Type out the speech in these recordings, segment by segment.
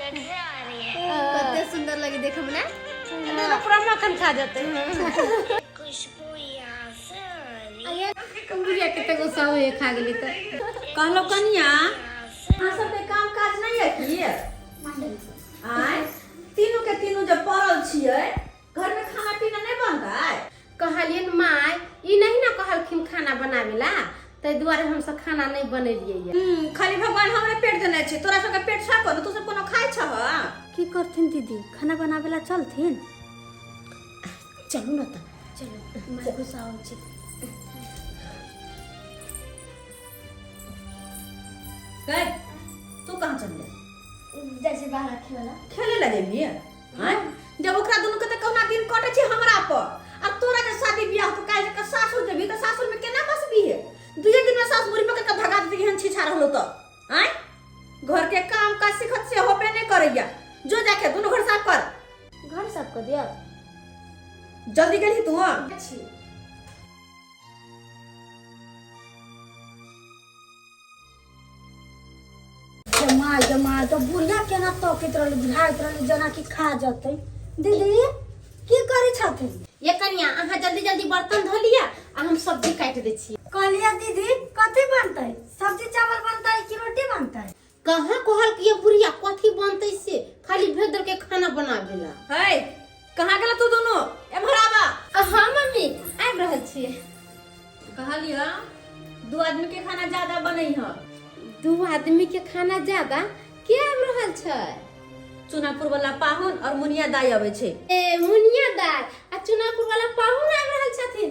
कते सुंदर लगे देखे में ना तेरा पूरा मक्खन खा जाते खुशबू यहाँ से आ रही है बुढ़िया कते को सब ये खा गेली त कहलो कनिया अहाँ सबके काम काज नहीं है की आय तीनू के तीनू जब पड़ल छियै घर में खाना पीना नहीं बनतै कहलियन माय ई नहीं ना कहलखिन खाना बनावे ला ताहि दुआरे हम सब खाना नहीं बनेलियै या। हम्म, खाली भगवान हमरे पेट देने छै तोरा सबके पेट छा कोनो तू सब कोनो खाइ छह की करथिन दीदी खाना बनावे ला चलथिन चलू ना त चलो माय गुस्सा हो छै गए तू कहाँ चल गया जैसे बाहर खेला खेले लगे लिए हैं जब ओकरा दोनों के त कौना दिन कटे छै हमरा पर आ तोरा जे शादी बियाह तो काहे के सासुर जेबी त सासुर में केना बसबी है दुए दिन में सास मुरी पकड़ के भगा देती हन छिछा रहलो त हैं घर के काम काज सिखत से होबे नहीं करैया जो जाके दोनों घर साफ कर घर साफ कर दिया जल्दी गेली तू हां छी जमा जमा तो बुढ़िया केना तकैत रहल बुझाइत रहल जेना कि खा जतै दीदी की करै छथिन ये कनिया अहाँ जल्दी जल्दी बर्तन धो लिया आ हम सब्जी काटि दै छी कहलिया दीदी कथी बनतै सब्जी चावल बनतै कि रोटी बनतै कहाँ कहल कि ये बुढ़िया कथी बनतै से खाली भेदर के खाना बनाबे ला है कहाँ गेल तू दोनों एम्हर आबा हाँ मम्मी आबि रहल छियै कहलिया दू आदमी के खाना ज्यादा बनै ह दू आदमी के खाना ज्यादा के आबि रहल छै चुनापुर वाला पाहुन और मुनिया दाई अबै छै ए मुनिया दाई आ चुनापुर वाला पाहुन आबि रहल छथिन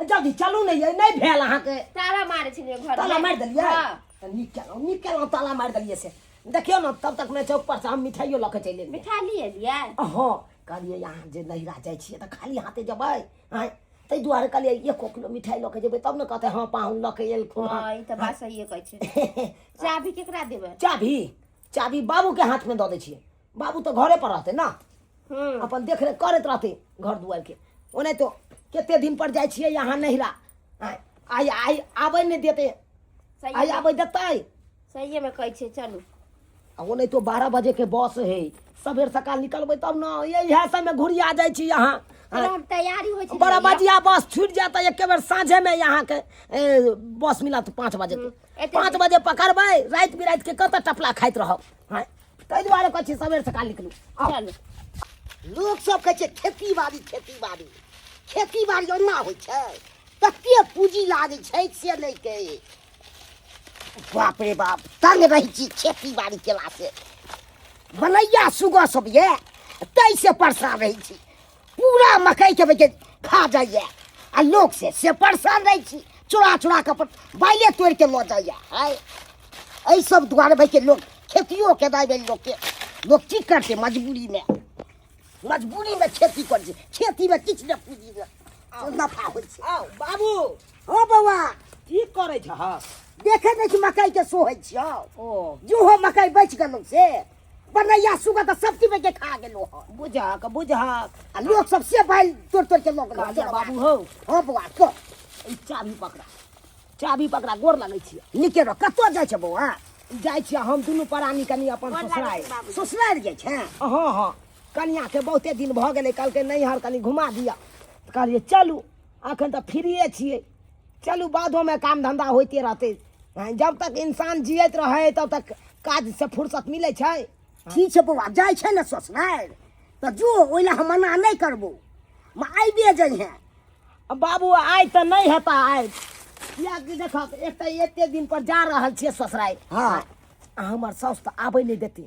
जल्दी चलू ने ये नहीं भेल अहाँ के ताला मारे छलिए घर ताला मार देलिए हां तो निकल निकल ताला मार देलिए से देखियो ना तब तक मैं चौक पर से हम मिठाइयो लके चले मिठाई लिए लिए हां कहलिए यहाँ जे नहीं रह जाए छिए तो खाली हाथे जब आए तै दुआरे कहलिए ये को किलो मिठाई लके जेबे तब न कहते हां पाहुन लके एल खो हां ई त बात सही कहै छै चाबी केकरा देबे चाबी चाबी बाबू के हाथ में द दे छिए बाबू तो घरे पर रहते ना हम्म अपन देख रेख करैत रहते घर दुआर के ओने तो कते दिन पर जाइ छियै यहाँ नहिरा आय आय आय आबै नहि देते आय सही आबै देतै सही में कहै छै चलू आ वो नहीं तो बारह बजे के बस है सबेर सकाल निकलबै तब न ये इएह सबमे घुरिया जाइ छी यहाँ चलो हम तैयारी होइ छै बड़ा बजिया बस छूट जाता है एके बेर साँझे में यहाँ के ए, बस मिलत पाँच बजे के एते- पाँच बजे पकड़बै राति बिराति के कतऽ टपला खाइत रहब हँ, ताहि दुआरे कहै छी सबेर सकाल निकलू आउ। चलू लोक सब कहै छै खेती बाड़ी खेती बाड़ी खेती बाड़ी ओना होइ छै कते पूंजी लागै छै से नहि कहे बाप रे बाप तंग रहै छी खेती बाड़ी केला से बनैया सुगह सब ये ताहि से परेशान रहै छी पूरा मकई के बेके खा जाइए आ लोग से से परेशान रहे छी चुरा चुरा के अपन बाइले तोड़ के लो जाइए हाय एहि सब दुआरे भाई के लोग खेतियो के दाई भाई लोग के लोग की करते मजबूरी में मजबूरी में खेती कर छै खेती में किछु ने पूंजी ने से नफा होइ छै आओ बाबू हो बौआ की करै छह देखे नहि छी मकई के सोहै छियौ ओ जो हो मकई बचि गेलौ से बनैया सुगा तऽ सब चीज के खा गेलो हन बुझक बुझक आ लोग सब से बैल तोड़ तोड़ के लोग कहलिया बाबू हौ हँ बौआ तो ई चाभी पकड़ा चाभी पकड़ा गोर लगै छियै नीके रह कतऽ जाइ छै बौआ जाइ छियै हम दुनू परानी कनी अपन गोर लागै ससुरारि छै बाबूजी। ससुरारि जाइ छै हँ हँ कनियाके बहुते दिन भऽ गेलै कहलकै नैहर कनी घुमा दिअ तऽ कहलियै चलू एखन तऽ फ्रीए छियै चलू बादोमे काम धंधा होइते रहतै हँ, जब तक इंसान जियत रहै तब तक काज से फुर्सत मिलै छै ठीक छै बौआ जाइ छै ने ससुरारि तऽ जो ओहि लए हम मना नहि करबो हम आबिए जइहेँ अब बाबू आइ तऽ नहि हेता आइ कियाकि देखक एक तऽ एते दिन पर जा रहल छियै ससुराइ हँ। आ हमर साउस तऽ आबै नहि देतै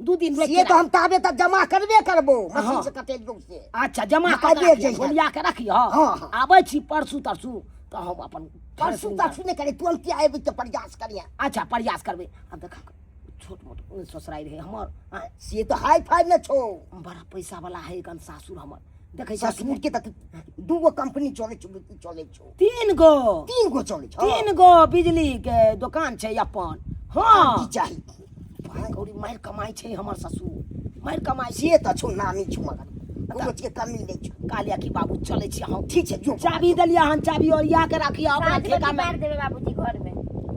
दू दिन रोकि से तऽ हम ताबे तक जमा करबे करबो मशीन से कटे जोग से अच्छा जमा हँ, कऽ आबे के जइहे। बोलिया के रखिह हँ, हँ। आबै छी परसू तरसू तऽ हम अपन परसू तरसू नहि करे तुरंते आबि तऽ प्रयास करिया अच्छा प्रयास करबै आ देख छोट मोट ससुराइ रहै हमर आँय, से तऽ हाई फाई ने छो बड़ा पैसा वाला है गन सासुर हमर देखै छ ससुर के तक दूगो कंपनी चले छो चले छो तीन गो तीन गो चले छो तीन गो बिजली के दोकान छै अपन हँ की चाही भाय गौरी मारि कमाइ छै हमर ससुर मारि कमाइ से तऽ छौ नामी छौ मगर कोनो चीज कमी नहि छौ कालिया की बाबू चलै छी हम ठीक छै जो चाबी देलियै हन चाबी ओरिया के राखिए अपना पाँच बजे ठेकामे मारि देबै बाबूजी घरमे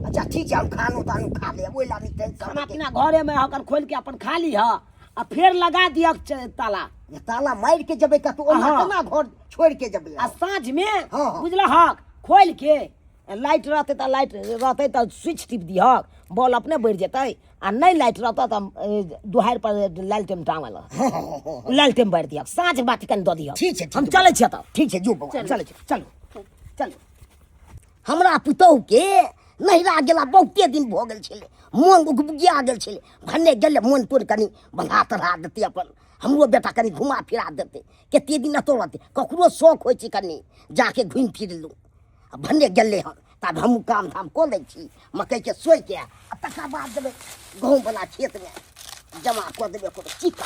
अच्छा ठीक छै हम खानो तानो खा लेब ओहि ला नहि तैं खाना करबै पीना घरे में हकन खोल के अपन खा ली ह आ फेर लगा दिया ताला जे ताला मारि के जेबै कतौ ओना अहाँ। केना घर छोड़ि के जेबै आ साँझ में हाँ, हाँ। बुझल हक खोल के लाइट रहतै तऽ लाइट रहतै तऽ स्विच टिप दिहक बॉल अपने बढ़ि जेतै आ नहि लाइट रहतौ तऽ दुहारि पर लालटेन टाँगल लालटेन बढ़ि दिहक साँझ बात कनि दऽ दिहक ठीक छै हम चलै छियै तऽ ठीक छै जो बौआ चलै छियै चलू चलू हमरा पुतौहके नहिरा गेला बहुते दिन भऽ गेल छलै मोन उगबुगिया गेल छलै भने गेलै मोन तोड़ कनि बन्हा तढ़ा देतै अपन हमरो बेटा कनि घुमा फिरा देतै कतेक दिन एतौ रहतै ककरो शौक होइ छै कनि जाके घुमि फिर लू आ भने गेलै हन तब हम काम धाम कऽ लै छी मकइके सोइके आ तकर बाद देबै गहूँमवला खेतमे जमा कऽ देबै कोनो चिक्का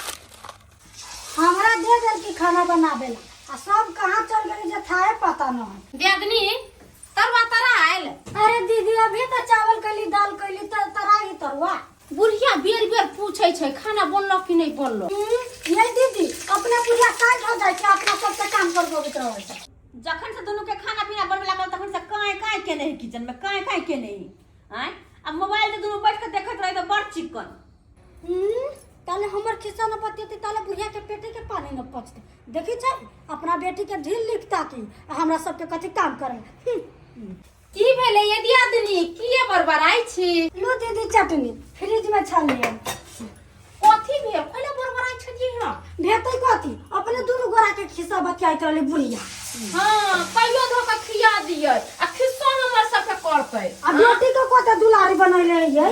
हमरा दे देल की खाना बनाबे ला आ सब कहाँ चल गेल जे थाहे पता न है दियादनी तरवा तरा आयल अरे दीदी अभी तो चावल कैली दाल कैली तर तराई तरुआ बुढ़िया बेर बेर पूछे छै खाना बनलो कि नहीं बनलो हम्म, ये दीदी अपना पूजा काज हो जाए छै अपना सबके काम कर देबैत रहै छै जखन से दुनू के खाना पीना बनबे लागल तखन से काहे काहे केने है किचन में काहे काहे केने है आय आ मोबाइल से दुनू बैठ के देखत रहे तो बड़ चिकन हम्म, ताले हमर खिस्सा न पतियते ताले बुढ़िया के पेटे के पानी न पचते देखी छै अपना बेटी के ढील लिखता की आ हमरा सबके कथी काम करे हम्म, की भेलै ये दियादनी की ये बरबराई छी लो दीदी चटनी फ्रिज में छलिए कथी भेल पहिले बरबराई छलिए हां भेतै कथी अपने दुनु गोरा के खिस्सा बतियाइत रहले बुढ़िया हां कहियो धो के खिया दियै आ खिस्सा हमर सबके करतै आ बेटी के कते दुलारी बनैले रहियै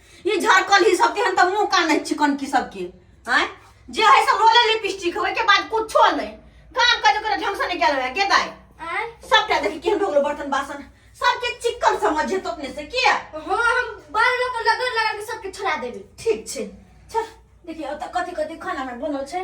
ई झरकल ही सब तेहन तऽ मुंह कान है चिकन की सब के हैं जे है से लोले लिपस्टिक है के बाद कुछो नहीं काम काज ओकरा ढंग से नहीं कयल होय के दाई आय सबटा देखी केहन भऽ गेलो बर्तन बासन सबके चिकन समझ जेतो अपने से किया हाँ हम बाल लोग के लगन लगा के सबके छोड़ा देबे ठीक छै चल देखिए ओतऽ कथी कथी खाना में बनल छै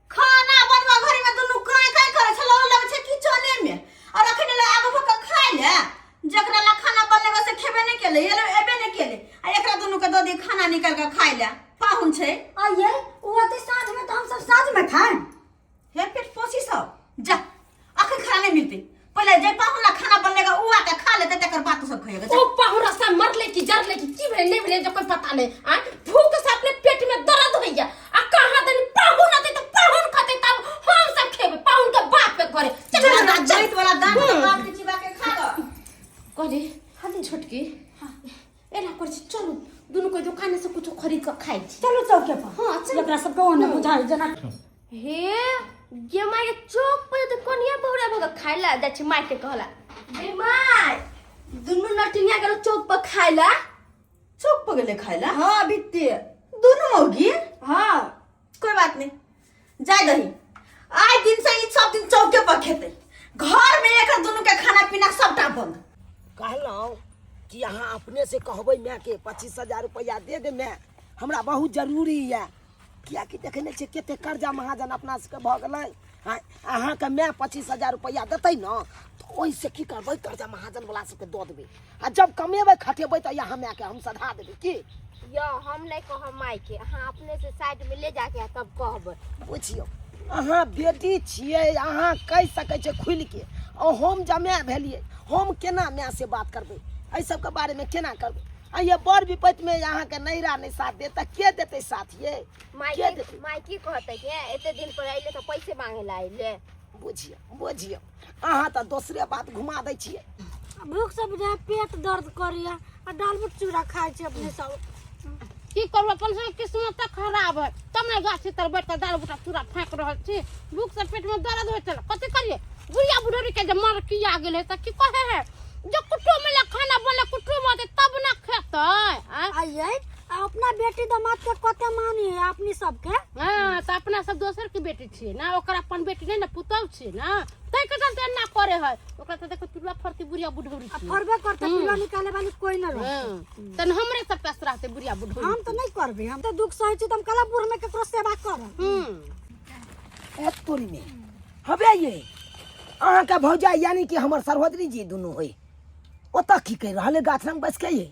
खाना बनबा घड़ी में दुनू काय काय करे छलो लगे छै किचने में और अखने ले आगो भक खाय ले जकरा ला खाना बनले बा से खेबे नहीं केले ये ले एबे नहीं केले आ एकरा दुनू के ददी खाना निकाल के खाय ले पाहुन छै आइए वो तो साँझ में तो हम सब साँझ में खाएं हे पेट पोसी सब जा अखन खाना नहीं मिलते पहले जे पाहुला खाना बनने का उआ के खा लेते तकर बाद तो सब खाएगा ओ पाहुरा सा मर ले की जर ले की की भेले नहीं भेले जकर पता नहीं आ भूख से अपने पेट में दर्द होइया आ कहां दिन पाहुन आते तो पाहुन खाते तब हम सब खेबे पाहुन के बाप के घरे चल चल ना जाइत वाला दांत तो बाप के चिबा के खा गो कहली हनी छोटकी एना कर छी चलू दुनू के दुकान से कुछ खरीद के खाई छी चलो चौक के पास हां चल एकरा सब कौन बुझाई जना हे ये माय के चौक पर तो कोनिया बहुरा भग खाइला जा छी माय के कहला बे माय दुनू नटिनिया गेलो चौक पर खाइला चौक पर गेले खाइला हां बित्ती दुनू मौगी हां कोई बात नहीं जाए दही आए दिन से ई सब दिन चौके पर खेते घर में एक दोनों के खाना पीना सबटा बंद कहलहुँ कि अहाँ अपने से कहबै माय के पच्चीस हजार रुपैआ दे दे माय हमरा बहुत जरूरी यऽ कियाकि देखै नहि छियै कते कर्जा महाजन अपना सबके भऽ गेलै आँय, अहाँके माय पच्चीस हजार रुपैआ देतै ने तऽ ओहिसँ की करबै कर्जा महाजनवला सबके दऽ देबै आ जब कमेबै खटेबै तऽ यहाँ मायके हम सधा देबै की यो हम नहीं कहब माई के अहाँ अपने से साइड में ले जाके आ तब कहब बुझियौ अहाँ बेटी छियै अहाँ कहि सकै छियै खुलि के आ हम जमाय भेलियै हम केना माय से बात करबै एहि सबके बारेमे केना करबै आ ये बड़ विपत्तिमे अहाँके नैहरा नहि साथ देत तऽ के देतै साथ ये माइके देतै? माइके कहतै कि "ए, एते दिन पर अइले तऽ पैसे मांगे ला अइले बुझियौ बुझियौ अहाँ तऽ दोसरे बात घुमा दै छियै भूख से बुझाय पेट दर्द करिया आ दाल में चूड़ा खाय छै अपने सब की करबो अपन सब किस्मत तऽ खराब है तब ने गाछी तर बैठ कऽ दाल बूटा चूड़ा फाँक रहल छी भूख से पेट में दर्द होइ छल कथी करिए बुढ़िया बुढ़ौरी के जे मर किया गेल है तऽ की कहे है जे कुटुम में ले खाना बनले कुटुम होते तब ने खेतै आँय? आइए आ अपना बेटी दामाद के कते मानी है अपनी सबके हाँ तो अपना सब दोसर के बेटी छियै ना ओकर अपन बेटी नहीं ना पुतौह छियै ना तै के चलते एना करे है ओकरा तो देखो चूल्हा फरती बुढ़िया बुढ़ौरी आ छियै फरबे करते चूल्हा निकाले वाली कोई न रहे हाँ, तन हमरे सब पास रहते बुढ़िया बुढ़ौरी हम तो नहीं करबे हम तो दुख सहे छी त हम कला बूढ़ में केकरो सेवा करब हम्म ए तोरी में हबे ये अहाँ का भौजाई यानी कि हमर सरहदरी जी दुनू होई ओतऽ की कहि रहल है गाछराम बस के ये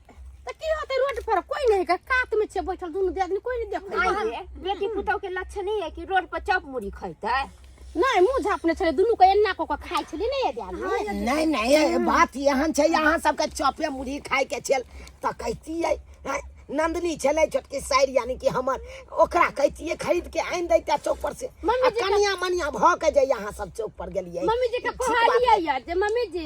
तऽ की होतै रोड पर कोई नहीं का कात में छे बैठल दुनु दे आदमी कोई नहीं देखै छै। आइ रे, बेटी पुतहु के लक्षण ही है कि रोड पर चप मुड़ी खैते नहीं मुंह झापने छले दुनु के एन्ना को के खाइ छले नहीं ये दे आदमी नहीं नहीं ये बात यहाँ छै यहाँ सबके चपे मुरही खाय के छेल तऽ कहतियै हैं, नंदनी छलै छोटकी साइर यानी कि हमर ओकरा कहतियै खरीद के आनि दैते चौक पर से मम्मी आ जी का- कनिया मनिया भऽ के जे यहाँ सब चौक पर गेलियै मम्मी जी के ठीक बात कहलिए यार जे मम्मी जी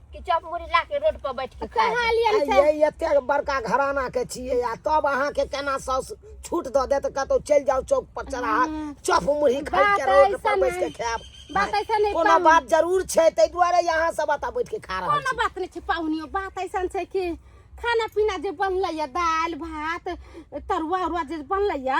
कि चप मुड़ी ला के रोड पर बैठ के खा कहाँ लिया आ से ये एते बड़का घराना के छिए आ तब अहाँ के केना साउस छूट द देत कतौ चल जाओ चौक पर चढ़ा चप मुरही खाइ बात के रोड पर ऐसन बैठ के है। खाएब बात ऐसा नहीं कोनो पाहुन- बात जरूर छै तै दुआरे यहाँ सब बता बैठ के खा रहल कोनो छी बात नहीं छै पाहुनियो बात ऐसा छै कि खाना पीना जे बनलै या दाल भात तरुआ उरुआ जे बनलै या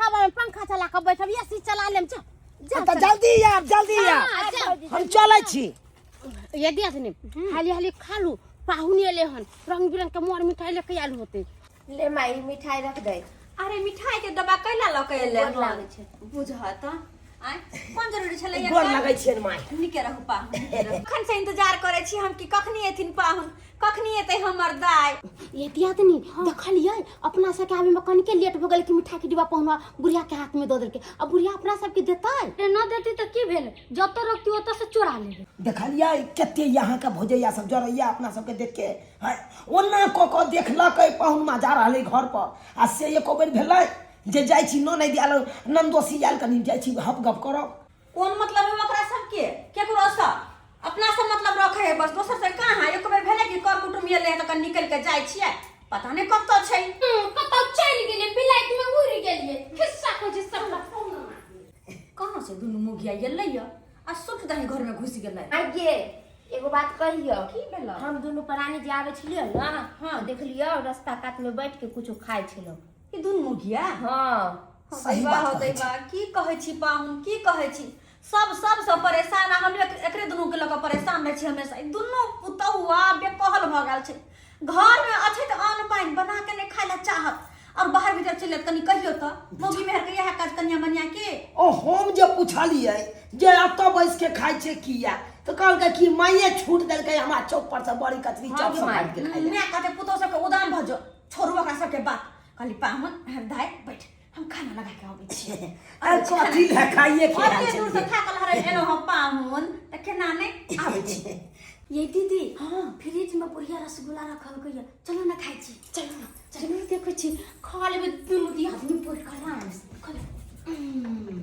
हम हम पंखा चला के बैठब या सी चला लेम जा जा तो जल्दी यार जल्दी यार हाँ, जा। हम चले छी ये दिया तने हाली हाली खा लू पाहुन एले हन रंग बिरंग के मोर मिठाई लेके आयल होते ले माई मिठाई रख दे अरे मिठाई के डब्बा कैला लऽ के एले गोर लागै छै। बुझत आय कोन जरूरी छलै गोर लगै छियनि माय निके रहू पाहुन निके रहू। कखन से इंतजार करै छी हम कि कखनी एथिन पाहुन कखनी एतै हमर दाय ये दियादनी देखलियै अपना सबके आबे में कनिके लेट भऽ गेल कि मिठाई के डिब्बा पहुना बुढ़िया के हाथ में दऽ देलकै अब बुढ़िया अपना सबके देतै अरे न देती तो की भेल जत रोकती ओत से चोरा लेबे देखलियै कते यहाँ के भोजैया सब जरैया अपना सबके देख के हैं? ओना कऽ कऽ देखलकै पहुनमा जा रहलै घर पर आ से एको बेर भेलै जे जाइ छी न नहि दिया नंदोसी आयल कनी जाइ छी हप गप करब कोन मतलब है ओकरा सबके केकरो से अपना से मतलब रखे है बस दोसर से कहाँ है एक बेर भेले कि कर कुटुम ये ले तो कन निकल के जाय छिए पता नहीं कत छै हम्म, कत चल गेले बिलाइत में उड़ गेले हिस्सा को जे सब फोन कहां से दुनु मुगिया ये ले या आ सुख दही घर में घुस गेले आगे एगो बात कहियो की भेल हम दुनु प्राणी जे आवे छिलियो ना हां देखलियो रास्ता कात में बैठ के कुछ खाय छिलो ई दुनू मुखिया हाँ हाँ, सही दैबा बात हो कहै दैबा की कहै छी पाहुन की कहै छी सब सबसँ परेशान आ हम एक- एकरे दुनू के लऽ कऽ परेशान रहै छी हमेशा ई दुनू पुतहुआ बेकहल भऽ गेल छै घर में अछि तऽ अन्न पानि बना के नहि खाय लए चाहत और बाहर भीतर चलि जायत कनि कहियो तऽ मौगी मेहर के इएह काज कनिया मनिया के ओ हम जे पुछलियै जे एतऽ बैस के खाइ छै किया तऽ कहलकै कि माइये छूट देलकै हमरा चौक पर से बड़ी कचरी हाँ चौक गे से माय, काटि के खाइ लए। माय कहते पुतहु सबके उदान भऽ जो छोड़ू ओकरा सबके बात कहली पाहुन दाय बैठ हम खाना लगा के अबै छी अरे कथी लए खाइए के आयल ओते दूर से छलियै? थाकल हरै एलहुँ हम पाहुन तऽ केना नहि आबै छी ये दीदी हाँ फ्रिज में बढ़िया रसगुल्ला रखल गई है चलो ना खाई छी चलू ने चलू देखै छी खा लेबै दुनू दी आदमी पोट करा खा लेबै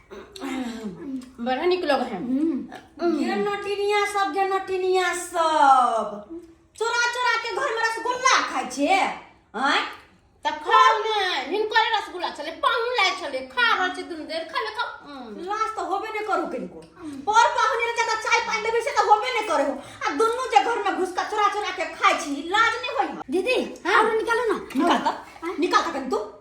बड़ा निक लग है ये नटिनिया सब जे नटिनिया सब चोरा चोरा के घर में रसगुल्ला खाय छे हैं त खाओ ने हिनकर रसगुल्ला छले पाहुन लाय छले खा रहल छै दुनु देर खाले खा लाज त होबे ने करू किनको पर पाहुन रे जका चाय पानी देबे से त होबे ने करे हो आ दुनु जे घर में घुस के चोरा चोरा के खाय छी लाज ने होई दीदी हां निकालो ना निकाल त निकाल त कन तू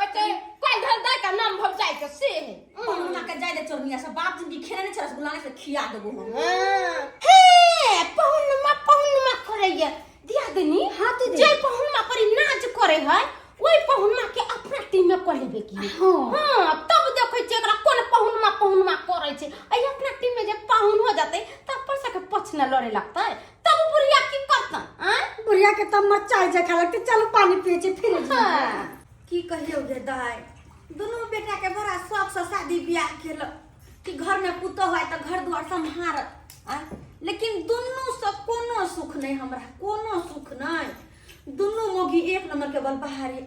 बच्चे कोई धंधा का नाम भव जाए के से है पहुना के जाय दे चोरनिया से बाप जिंदगी खेले ने चरस गुलाने से खिया देबो हम हाँ। हे पहुनमा पहुनमा करैया दिया देनी हाँ तो जे पहुनमा पर नाच करे है ओई पहुनमा के अपना टीम में कर लेबे की हाँ। हां तब देखै छै एकरा कोन पहुनमा पहुनमा करै छै अई अपना टीम में जे पाहुन हो जाते त अपन सके पछना लड़े लगतै तब उ बुढ़िया की करता आय बुढ़िया के तब मरचाई जे खा लगते चल पानी पिए छी फिर हाँ। की कहियो गे दाय दोनों बेटा के बड़ा शौक से शादी ब्याह केल कि घर में पुतो है तो घर द्वार सम्हारत आ? लेकिन दोनों से कोनो सुख नहीं हमरा कोनो सुख नहीं दोनों मोगी एक नंबर के बल बहारी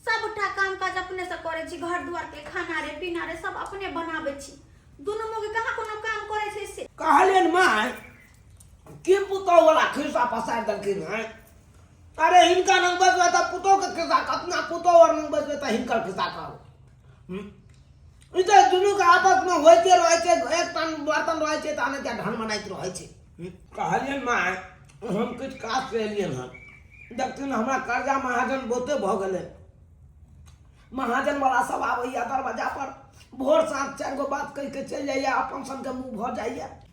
सबटा काम काज अपने से करे छी घर द्वार के खाना रे पीना रे सब अपने बनाबे छी दोनों मोगी कहाँ कोनो काम करे छै से कहलियन माय के पुतौ वाला खिस्सा पसार देलखिन हैं अरे हिनका नंग बजबै तऽ पुतौ के खिस्सा अपना पुतौ और नंग बजबै तऽ हिनकर खिस्सा कहू हम्म? ई तऽ दुनू के आपस में होइते रहै छै एक टन बर्तन रहै छै तहन एकटा ढन बनाइत रहै छै हम्म? कहलियन माय हम किछु काज से एलियन हन देखथिन हमरा कर्जा महाजन बहुते भऽ गेलै महाजन वाला सब आबैया दरवाजा पर भोर साँझ चारि गो बात कहि के चलि जाइया अपन सन के मुंह भऽ जाइया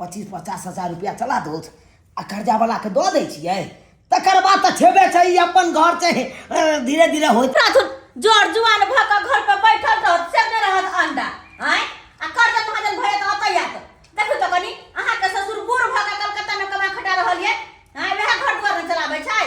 पच्चीस पचास हजार रुपया चला दो आ कर्जा वाला के दऽ दै छियै तकर बाद तऽ छेबे छै ई अपन घर छै अ, धीरे धीरे होइत राथुन जोर जुआन भऽ कऽ घर पर बैठल रहत से नहि रहत अंडा आय आ कर जब भजन भए तऽ अतै आत देखू तऽ कनी अहाँके ससुर बूढ़ भऽ कऽ कलकत्ता मे कमा खटा रहल ये आय वएह घर दुआर ने चलाबै छै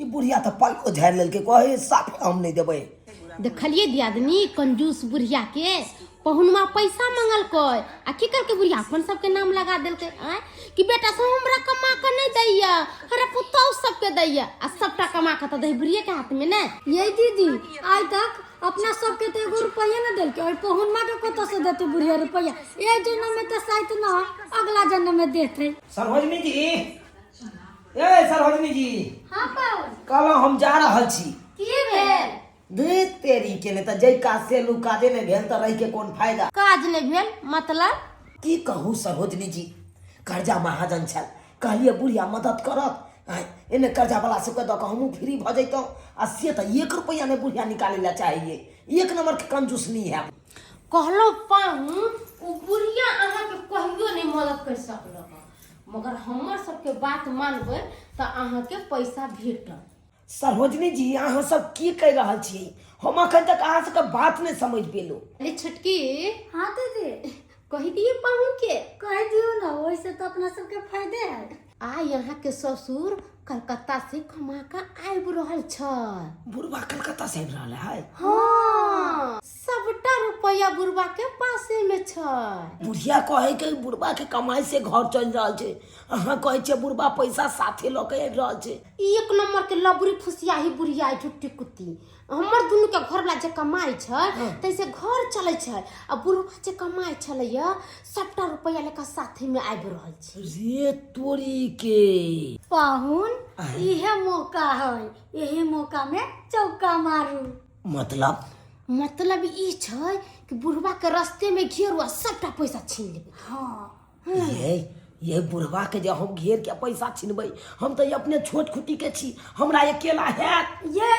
ई बुढ़िया तऽ पल्लो झाड़ि लेलकै कहे साफे हम नहि देबै देखलिए दियादनी कंजूस बुढ़िया के पहुनमा पैसा मंगलकै आ की करके बुढ़िया अपन सबके नाम लगा देलकै आय कि बेटा सब हमरा कमा के नहीं दैया हरा पुतौ सबके दैया आ सबटा कमा के तऽ दै बुढ़िया के हाथ में ने ये दीदी आइ तक अपना सबके तो एगो रुपया न देलके और पहुनमा के कत से देते बुढ़िया रुपया ए जन्म में तो शायद न अगला जन्म में देते सरोजनी जी ए सरोजनी जी हाँ पाहुन कल हम जा रहल छी की भेल देख तेरी के ने त जई काज से लू काजे ने भेल त रह के कोन फायदा काज ने भेल मतलब की कहू सरोजनी जी कर्जा महाजन छल कहलिए बुढ़िया मदद करत आय, एने कर्जा वाला सबके दऽ कऽ हमहूँ फ्री भऽ जैतहुँ आ से तऽ एक रुपैआ नहि बुढ़िया निकालै लए चाहैए एक नंबर के कंजूस नहीं है कहलो पाहुन ओ बुढ़िया अहाँ के कहियो नहीं मदद कर सकलो मगर हमर सबके बात मानबै तऽ अहाँके पैसा भेटत सरोजनी जी अहाँ सब की कहि रहल छियै हम अखन तक अहाँ सबके बात नहि समझ पेलहुँ अरे छोटकी हाँ दीदी कहि दिए पाहुन के कह दियो ना वैसे तो अपना सबके फायदे है आ यहाँ के ससुर कलकत्ता से कमा के आबि रहल छै बुढ़वा कलकत्ता से आबि रहल है हाँ सबटा रुपया बुढ़वा के पासे में छै बुढ़िया कहे के बुढ़वा के कमाई से घर चल रहा है अहा कहे छे बुढ़वा पैसा साथे ल के रहा है एक नंबर के लबरी फुसिया ही बुढ़िया झुट्टी कुत्ती हमर दुनु के घर ला जे कमाई छै हाँ। तैसे घर चले छै आ बुढ़वा जे कमाई छले या सबटा रुपया लेकर साथे में आब रहल छै रे तोरी के पाहुन इहे मौका है यही मौका में चौका मारू मतलब मतलब ई छै कि बुढ़वा के रस्ते में घेर हुआ सबटा पैसा छीन लेबे हाँ ये ये बुढ़वा के जे हम घेर के पैसा छिनबै हम तऽ अपने छोट खुटी के छी हमरा अकेला हैत ये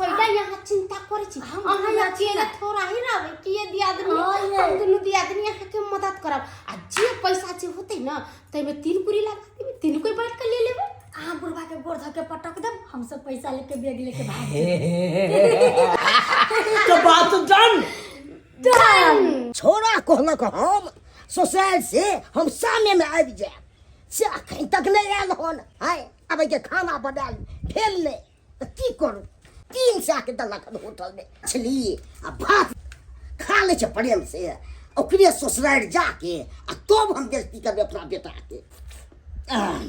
कैला यहाँ चिंता करे छी हम अहाँ दुनू यहाँ चिंता थोड़ा ही रहबै कि ये दियादनी हाँ, ये। हम दुनू दियादनी अहाँ के मदद करब आ जे पैसा जे होते ना ताहिमे तीन पूरी लागत तीन कोई बाँट कऽ ले लेबै अहाँ बुढ़बा के गोड़ धऽ के पटक देब हम सब पैसा लेके बैग लेके भाग तो बात डन डन छोरा कहलक हम ससुराल से हम सामने में आबि जायब से अखन तक नहि आयल हन आय आबे के खाना बनायल भेल नहि तऽ की करू तीन सएके देलक हन होटलमे छली आ भात खा लै छै प्रेम से ओकरे ससुरारि जाके आ तब हम बेजती करबै अपना बेटाके आह,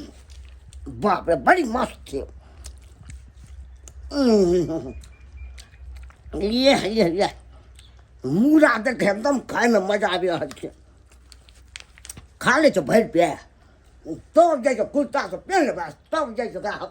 बाप रे बड़ी मस्त छै उम्म, ये ये ये मूड़ा देखे एकदम खाइमे मजा आबि रहल छै खा लै छै भरि पे तब जाइ छै कुर्तासँ पेन लेबै तब जाइ छै ओकरा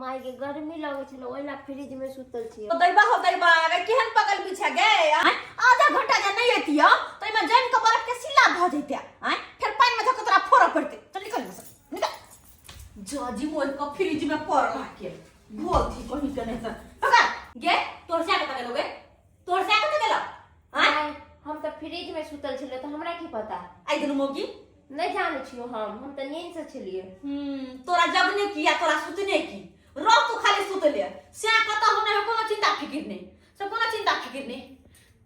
माय के गर्मी लगे छल ओइ ला फ्रिज में सुतल छी तो दैबा हो दैबा अगर केहन पगल पीछा गए आय आधा घंटा जे नहीं एतियो तो इमे जम के बर्फ के सिला भ जइते आय फिर पानी में धक तोरा फोड़ पड़ते चल निकल यहाँ से निकल जाजी मोर को फ्रिज में पड़ रहा के बहुत ही कहीं के नहीं सर पकड़ गे तोर से आगे पकड़ लोगे तोर से कत गेला हां आय, हम तऽ फ्रिज में सुतल छलियै तऽ हमरा की पता आई दुनु मोगी नहि जानै छियो हम हम तऽ नींद से छलियै हम्म तोरा जगने की या तोरा सुतने की रह तू खाली सुतले से कत होने है कोनो चिंता फिकिर नहीं से कोनो चिंता फिकिर नहीं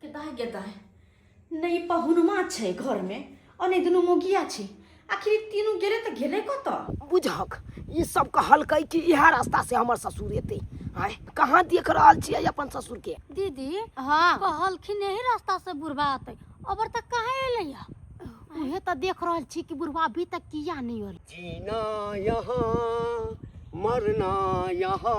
के दाय के दाय ने ई पहुनमा छै घरमे आ ने दुनू मोगिया छै आखिर ई तीनू गेलै तऽ गेलै कतऽ बुझक ई सब कहलकै कि इएह रास्ता से हमर ससुर एतै आय कहाँ देख रहल छियै अपन ससुर के दीदी हाँ कहलखिन यही रास्ता से बुढ़वा आते अबर तक कहाँ एले या उहे तो देख रहल छी कि बुढ़वा अभी तक किया नहीं होल जीना यहाँ मरना यहाँ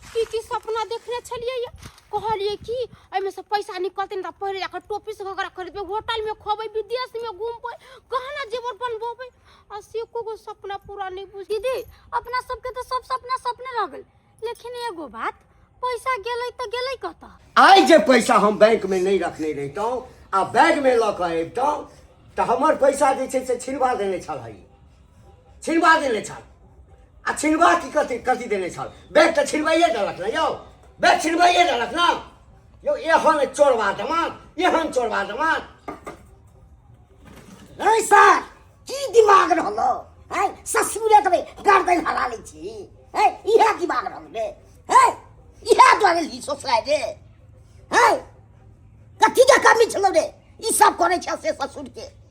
की की सपना देखने छलियै ये कहलियै कि एहिमे से पैसा निकलतै ने तऽ पहिले जाकर टोपी से घगरा खरीदबै होटल में खोबै विदेश में घूमबै गहना जेवर बनबोबै आ से एको गो सपना पूरा नहीं बुझ दीदी अपना सबके तो सब सपना सपने रह गेल लेकिन एगो बात पैसा गेलै तऽ गेलै कतऽ आइ जे पैसा हम बैंक में नहीं रखने रहितहुँ आ बैग में लऽ कऽ अबितहुँ तऽ हमर पैसा जे छै से छिनबा देने छलही छिनबा देने छल आ छिनबा की कथी कथी देने छल बैग तऽ छिनबाइए देलक ने यौ बैग छिनबाइए देलक ने यौ एहन चोरबा दमाद एहन चोरबा दमाद ऐ सर की दिमाग रहलो है ससुरे तबे गर्दन हरा ले छी है इहे दिमाग रहल बे है इहे द्वारे ली सोसलाय रे है कथी के कमी छलो रे ई सब करे छै से ससुर के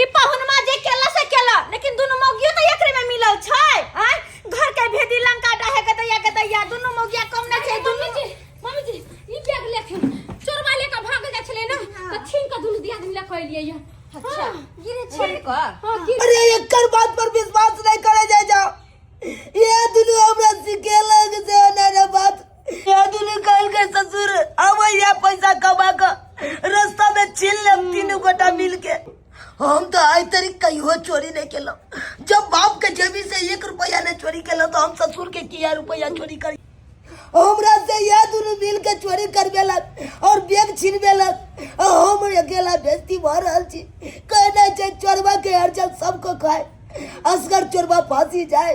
ई पहुनमा जे केला से केला लेकिन दुनु मौगियो त एकरे में मिलल छै आय घर के भेदी लंका डाहे के दैया के दैया दुनु मौगिया कम नै छै दुनु मम्मी जी मम्मी जी ई बैग लेके चोरवा लेके भाग जा छले ना त छीन के दुनु दिया दिन लेके एलिए ये अच्छा गिरे छै को हां की अरे एकर बात पर विश्वास नहीं करे जाए जाओ ये दुनू हमरा सिखेलक से ना रे बात हम तो आज तरी कहियो चोरी नहीं केलो जब बाप के जेबी से एक रुपया ने चोरी केलो तो हम ससुर के किया रुपया चोरी करी हमरा से यह दोनों मिल के चोरी कर बेला और बैग छीन बेला हम अकेला बेस्ती भर रहल छी कहना छै चोरवा के हर जब सबको खाए असगर चोरवा फांसी जाए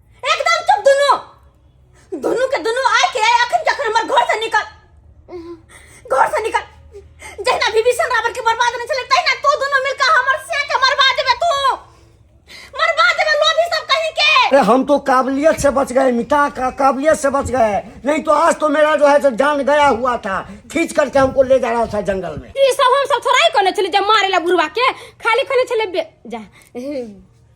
एकदम चुप दुनू दुनू के दुनू आय के आय अखन के अखन हमर घर से निकल घर से निकल जहिना विभीषण रावण के बर्बाद नहीं चले तहिना तू दुनू मिलकर हमर से के मरवा देबे तू मरवा देबे लोभी सब कहीं के अरे हम तो काबिलियत से बच गए मिटा का काबिलियत से बच गए नहीं तो आज तो मेरा जो है जो जान गया हुआ था खींच करके हमको ले जा रहा था जंगल में ई सब हम सब थोड़ा ही कोने चले जा मारे ला बुढ़वा के खाली कोने चले बे जा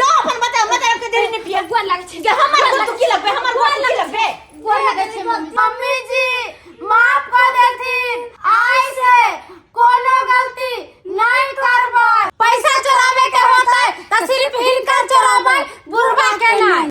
जा अपन बता मत रख के देरी ने पिया गोर लागे छै जा हमर गोर की लगबे हमर गोर की लगबे गोर लागे छै मम्मी जी माफ कर देथिन आइ से कोनो गलती नहीं करबै पैसा चोराबे के होतै त सिर्फ हिनकर चोराबै बुढ़वा के नहीं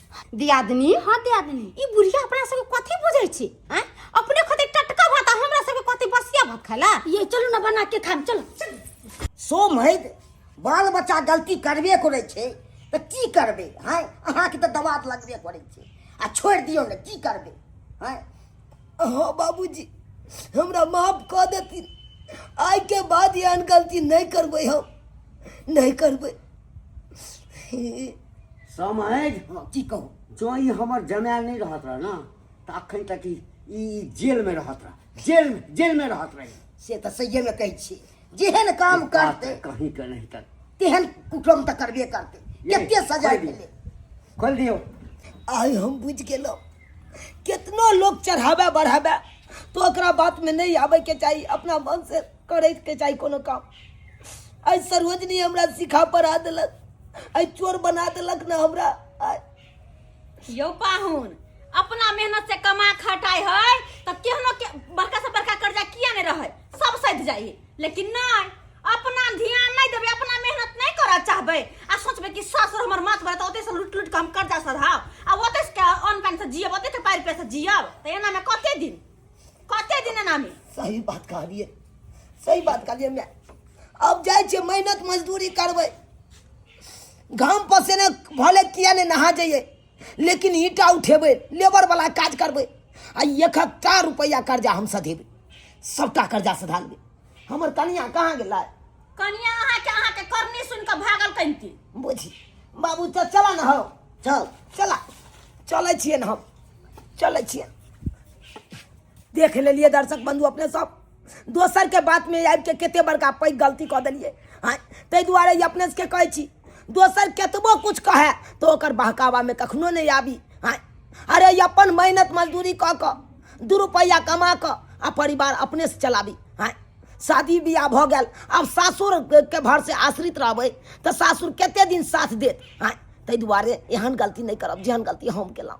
दियादनी हाँ दियादनी ई बुढ़िया अपना सबके कथी बुझै छी हैं अपने खते टटका भात आ हमरा सबके कथी बसिया भात खाला ये चलू ना बना के खाम चल सोम है बाल बच्चा गलती करबे करे छे तो की करबे हैं अहाँ के तो दवात लगबे करे छे आ छोड़ दियो ने की करबे हैं हाँ बाबूजी हमरा माफ कऽ देथिन आइ के बाद एहन गलती नहि करबै हम नहि करबै समझ हँ, की कहू जँ ई हमर जमाय नहि रहत रह ने तऽ अखन तक ई ई जेलमे रहत रह जेल जेलमे रहत रह से तऽ सहिएमे कहै छी जेहन काम करतै कहीं के नहीं तक तेहन कुटुम तऽ करबे करतै ये, कते सजा खोल दियौ। भेलै खोल दियौ आइ हम बुझि गेलहुँ केतना लोक चढ़ाबे बढ़ाबे तो ओकरा बातमे नहि आबैके चाही अपना मन से करैके चाही कोनो काम आइ सरोजनी हमरा सिखा पढ़ा देलक आइ चोर बना देलक ने हमरा आइ यौ पाहुन अपना मेहनत से कमा खटाई है तब केहनो के बड़का से बड़का कर्जा किया नहीं रहे सब सध जाई लेकिन नहीं अपना ध्यान नहीं देबे अपना मेहनत नहीं कर चाहबे आ सोचबे कि ससुर हमर माथ भरत ओते से लुट लुट के हम कर्जा सधाव आ ओते से के अन पानी से जियब ओते के पार पे से जियब त एना में कते दिन कते दिन ना में सही बात कहलिए सही बात कहलिए मैं अब जाए छे मेहनत मजदूरी करबे घाम पसेने भले किया ने नहा जाइए लेकिन ईटा उठेबे लेबर वाला काज करबे आ एक हजार रुपया कर्जा हम सधेबे सबटा कर्जा सधा लेबे हमर कनिया कहाँ गेला कनिया अहाँ के अहाँ के करनी सुन के भागल कनती बुझी बाबू तो चला न हो चल चला चले छिए न हम चलै छियै देख लेलिए दर्शक बंधु अपने सब दोसर के बात में आबि के कते बड़का पैघ गलती कऽ देलिए हाँ ताहि दुआरे ई अपने सबके कहै छी दोसर केतबो कुछ कहे तो ओकर बहकावा में कखनो नहीं आबी हाँ अरे ई अपन मेहनत मजदूरी कऽ कऽ दू रुपैआ कमा कऽ आ परिवार अपने से चलाबी हाँ शादी बियाह भऽ गेल आब सासुर के भर से आश्रित रहबै तऽ सासुर कते दिन साथ देत हाँ ताहि दुआरे एहन गलती नहि करब जेहन गलती हम केलहुँ